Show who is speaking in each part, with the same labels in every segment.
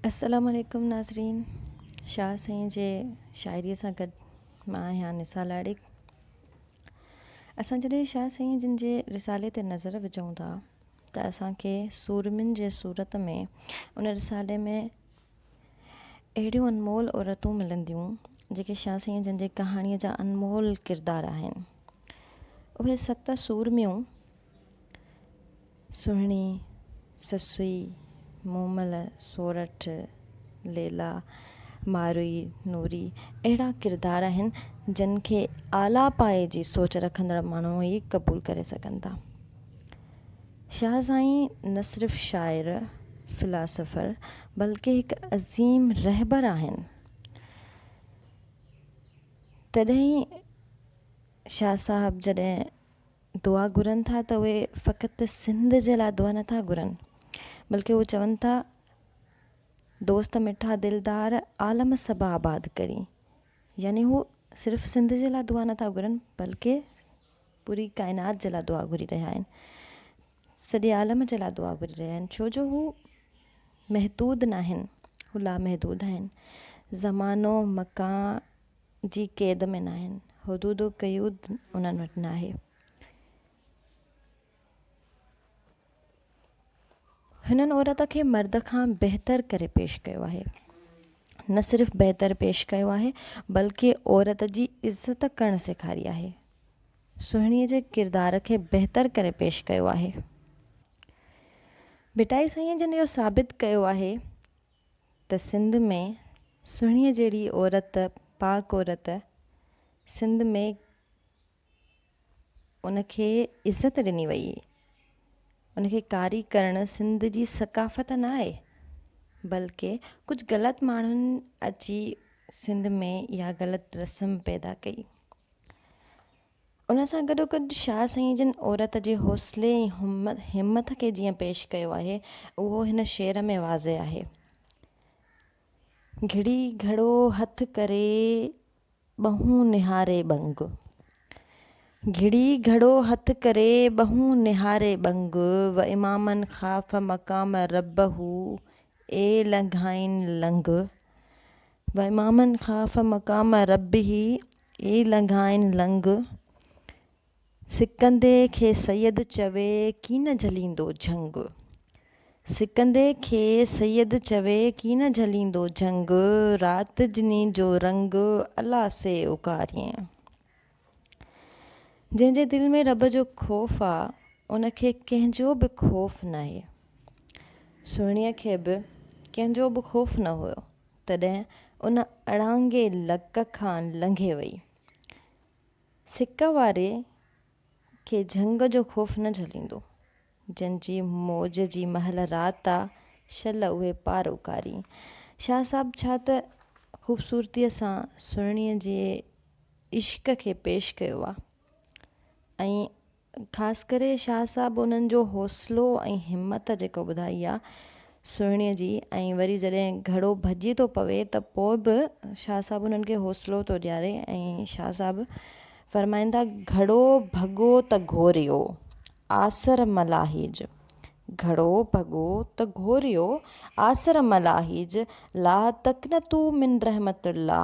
Speaker 1: السلام عليڪم ناظرين شاهه سائين جي شاعري سان گڏ مان آهيان نثار لاڙڪ اسان جڏهن شاهه سائين جن جي رسالي تي نظر وجهون ٿا ته اسان کي سورمين جي صورت ۾ ان رسالي ۾ اهڙيون انمول عورتون ملنديون جيڪي شاهه سائين جن جي ڪهاڻيء جا انمول ڪردار آهن اهي ست سورميون سهڻي سسئي، مومل، سورٺ، ليلا، ماروئي، نوري اهڙا ڪردار آهن جن کي اعليٰ پايي جي سوچ رکندڙ ماڻهو ئي قبول ڪري سگهن ٿا. شاهه سائين نه صرف شاعر، فلاسافر بلڪه هڪ عظيم رهبر آهن. تڏهن ئي شاهه صاحب جڏهن دعا گهرن ٿا ته اهي فقط سنڌ جي لاء دعا نٿا گهرن بلڪه هو چون ٿا دوست مٺا دلدار عالم سڀ آباد ڪرين يعني هو صرف سنڌ جي لاء دعا نٿا گهرن بلڪه پوري ڪائنات جي لاء دعا گهري رهيا آهن سڄي عالم جي لاء دعا گهري رهيا آهن ڇو جو هو محدود ناهن هو لامحدود آهن زمانو مڪان جي قيد ۾ ناهن، حدود و قيود انهن وٽ ناهي. هنن عورت کي مرد کان بهتر ڪري پيش ڪيو آهي. نه صرف بهتر پيش ڪيو آهي، بلڪ عورت جي عزت ڪرڻ سيکاري آهي. سهڻيء جي ڪردار کي بهتر ڪري پيش ڪيو آهي. ڀٽائي سائينء جن اهو ثابت ڪيو آهي ته سنڌ ۾ سهڻيء جهڙي عورت، پاڪ عورت، سنڌ ۾ ان کي عزت ڏني ويئي. ان کي ڪاري ڪرڻ سنڌ جي ثقافت نه آهي. بلڪه ڪجهه غلط ماڻهن اچي سنڌ ۾ اها غلط رسم پيدا ڪئي. ان سان گڏوگڏ شاهه سائين جن عورت جي حوصلي ۽ همٿ کي جيئن پيش ڪيو آهي، اهو هن شعر ۾ واضح آهي. گهڙي گهڙو هٿ ڪري ٻهون نهاري ٻنگ. گهڙي گهڙو هٿ ڪري ٻهون نهاري ٻنگ، و امامن خاف مقام ربه اي لنگهائين لنگ. وممن خاف مقام ربه اي لنگهائين لنگ، سڪندي کي سيد چوي ڪين جهليندو جهنگ، سڪندي کي سيد چوي ڪين جهليندو جهنگ، رات جني جو رنگ الا سي اوڪارين. جنهن جي دل ۾ رب جو خوف آ ان کي ڪنهن جو به خوف ناهي. سهڻيء کي به ڪنهن جو به خوف نه هيو. تڏهن ان اڙانگي لڪ کان لنگهي وئي. سڪ واري کي جهنگ جو خوف نه جهليندو، جنهن جي موج جي مهل رات آ، شل اهي پار اڪاري. شاهه صاحب ڇا ته خوبصورتيء سان سهڻيء جي عشق کي پيش ڪيو آ ۽ خاص ڪري شاهه صاحب انهن جو حوصلو ۽ همت جيڪا ٻڌائي آ سهڻي جي ۽ وري جڏهن گهڙو ڀڄي ٿو پوي ته پوء به شاهه صاحب انهن کي حوصلو ٿو ڏياري ۽ شاهه صاحب فرمائن ٿا گهڙو ڀڳو ته گهوريو آسر ملاحيج گهڙو ڀڳو ته گهوريو آسر ملاحيج لا تقنطو من رحمت الله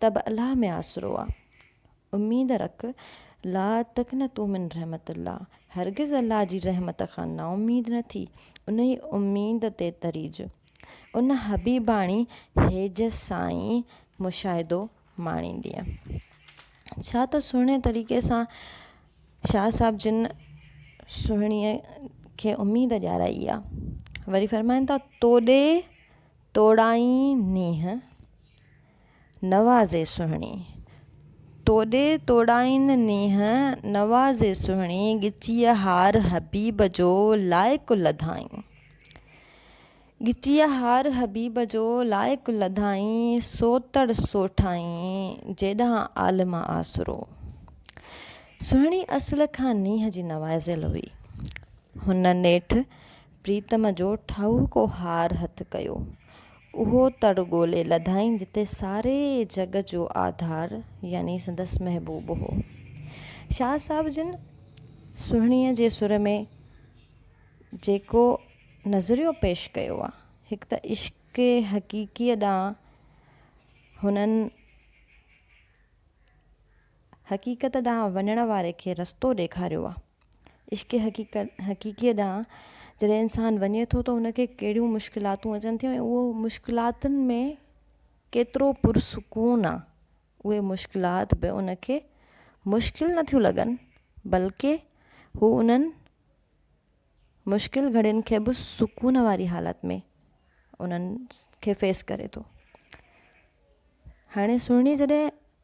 Speaker 1: ته به الله ۾ آسرو آ. اميد رک، لا تقنطوا من رحمت الله، هرگز الله جي رحمت کان نااميد نه ٿي، انهي اميد تي تريج. ان حبيباڻي هيج سائين مشاهدو ماڻيندينء. ڇا ته سهڻي طريقي سان شاهه صاحب جن سهڻيء کي اميد ڏيارائي آ. وري فرمائن ٿا، توڏي توڙائين نينهن نوازي سهڻي. توڏي توڙائين نينهن نوازي سهڻي، ڳچيء هار حبيب جو لائق لڌائين. ڳچيء هار حبيب جو لائق لڌائين، سوتڙ سوٺائين جيڏانهن عالم آسرو. سهڻي اصل کان نينهن جي نوازيل هئي. هن نيٺ پريتم جو ٺاهوڪو هار هٿ ڪيو. اهو تڙ ڳولي لڌائين جتي ساري جڳ جو آڌار يعني سندس محبوب هو. شاهه صاحب جن سهڻيء جي سر ۾ جيڪو نظريو پيش ڪيو آ، هڪ ته عشق حقيقيء ڏانهن هنن حقيقت ڏانهن وڃڻ واري کي رستو ڏيکاريو آ. عشق حقيقت حقيقيء ڏانهن جڏهن انسان وڃي ٿو ته ان کي ڪهڙيون مشڪلاتون اچن ٿيون ۽ اهو مشڪلاتن ۾ ڪيترو پرسڪون آ اهي مشڪلات به ان کي مشڪل نه ٿيون لڳن بلڪه هو انهن مشڪل گهڙين کي به سڪون واري حالت ۾ انهن کي فيس ڪري ٿو هاڻي سهڻي جڏهن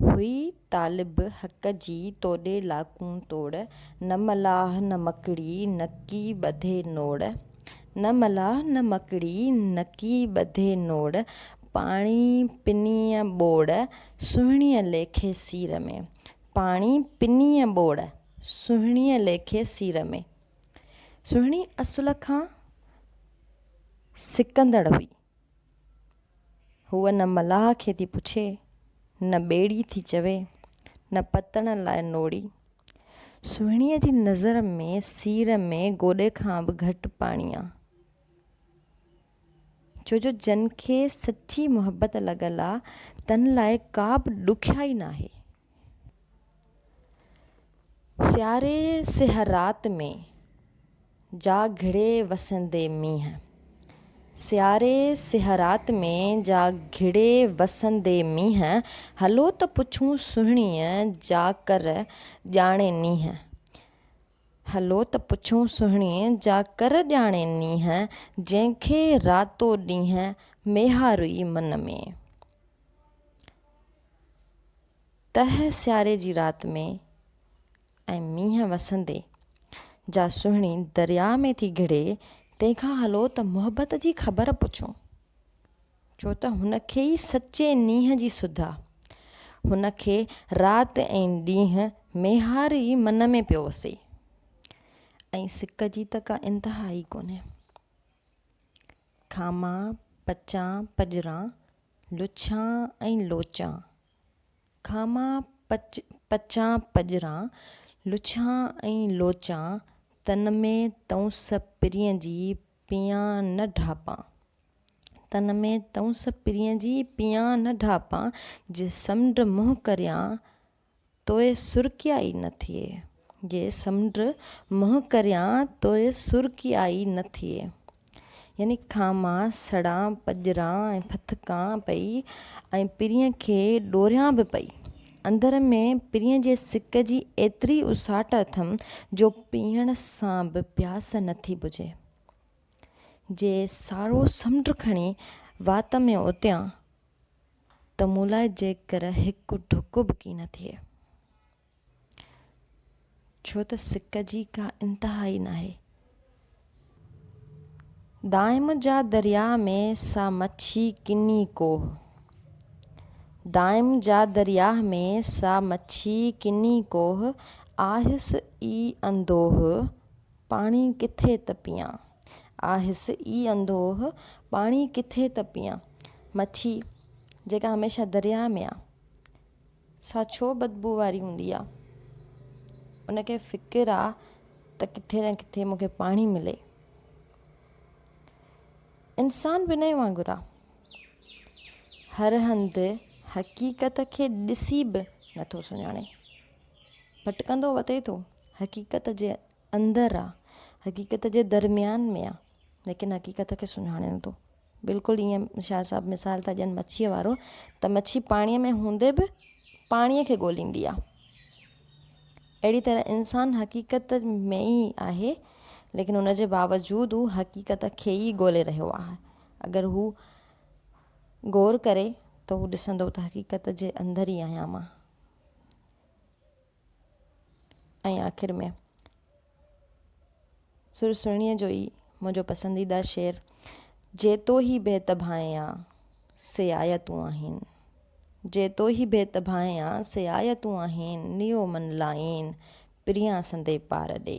Speaker 1: هئي طالب حق جي توڏي لاکون توڙ، نه ملاح نه مڪڙي نڪي ٻڌي نوڙ، نه ملاح نه مڪڙي نڪي ٻڌي نوڙ، پاڻي پنيء ٻوڙ، سهڻيء ليکي سير ۾، پاڻي پنيء ٻوڙ، سهڻيء ليکي سير ۾. سهڻي اصل کان سڪندڙ هئي. هوء نه ملاح کي ٿي پڇي، نه ٻيڙي ٿي چوي، نه پتڻ لاء نوڙي. سهڻيء جي نظر ۾ سير ۾ گوڏي کان به گهٽ پاڻي آ. ڇو جو جن کي سچي محبت لڳل آ، تن لاء ڪا به ڏکيائي ناهي. سياري سحر رات ۾، جا گهڙي وسندي مينهن. سياري سحر رات ۾، جا گهڙي وسندي مينهن. هلو ته پڇون سهڻيء، جا ڪر ڄاڻي نينهن. هلو ته پڇون سهڻيء، جا ڪر ڄاڻي نينهن. جنهن کي راتو ڏينهن، ميهارئي من ۾. تهه سياري جي رات ۾ ۽ مينهن وسندي جا سهڻي درياء ۾ ٿي گهڙي تنهن کان هلو ته محبت جي خبر پڇون ڇو ته هن کي ئي سچي نينهن جي سڌ آ هن کي رات ۽ ڏينهن ميهار ئي من ۾ پيو وسي ۽ سڪ جي ته ڪا انتها ئي ڪونهي کامان پچان پڄران، لڇان ۽ لوچان. کامان پچ پچان پڄران، لڇان ۽ لوچان، تن ۾ تئونس پرين جي پيان نه ڍاپان. تن ۾ تئونس پرين جي پيان نه ڍاپان، جي سمنڊ منهن ڪريان توء سرڪيائي نه ٿئي، جي سمنڊ منهن ڪريان توء سرڪيائي نه ٿئي. يعني کان مان سڙان، پڄران ۽ ڦٿڪان پئي ۽ پرينء کي ڏوريان به پئي. اندر ۾ پرينء جي سڪ جي ايتري اساٽ اٿم جو پيئڻ سان به پياس نه ٿي بجهي. جي سارو سمنڊ کڻي وات ۾ اوتيان، ته مون لاء جيڪر هڪ ڍڪ به ڪي نه ٿئي، ڇو ته سڪ جي ڪا انتها ئي ناهي. دائم جا درياء ۾ سا مڇي ڪني ڪوه، دائم جا درياء ۾ سا مڇي ڪني ڪوه، آهس ئي اندوه، پاڻي ڪٿي ته پيان. آ هس ئي انڌوه، پاڻي ڪٿي ته پيان. مڇي جيڪا هميشه درياء ۾ آ، سا ڇو بدبوء واري هوندي آ؟ ان کي فڪر آ ته ڪٿي نه ڪٿي مون کي پاڻي ملي. انسان به انهيء وانگر آ. هر هنڌ حقيقت کي ڏسي به نٿو سڃاڻي. ڀٽڪندو وتي ٿو حقيقت جي اندر آ حقيقت جي درميان ۾ آ ليڪن حقيقت کي سڃاڻي نٿو بلڪل ايئن شاهه صاحب مثال ٿا ڏين مڇيء وارو ته مڇي پاڻيء ۾ هوندي به پاڻيء کي ڳوليندي آ اهڙي طرح انسان حقيقت ۾ ئي آهي ليڪن ان جي باوجود هو حقيقت کي ئي ڳولي رهيو آهي اگر هو غور ڪري ته هو ڏسندو ته حقيقت جي اندر ئي آهيان مان ۽ آخر ۾ سر سهڻيء جو ئي منهنجو پسنديده شعر جيتو هي بيت ڀانئيا سي آيا تون آهين جيتو هي بيت ڀانئيا سي آيا تون آهين نيو من لائين پريان سندي پار ڏي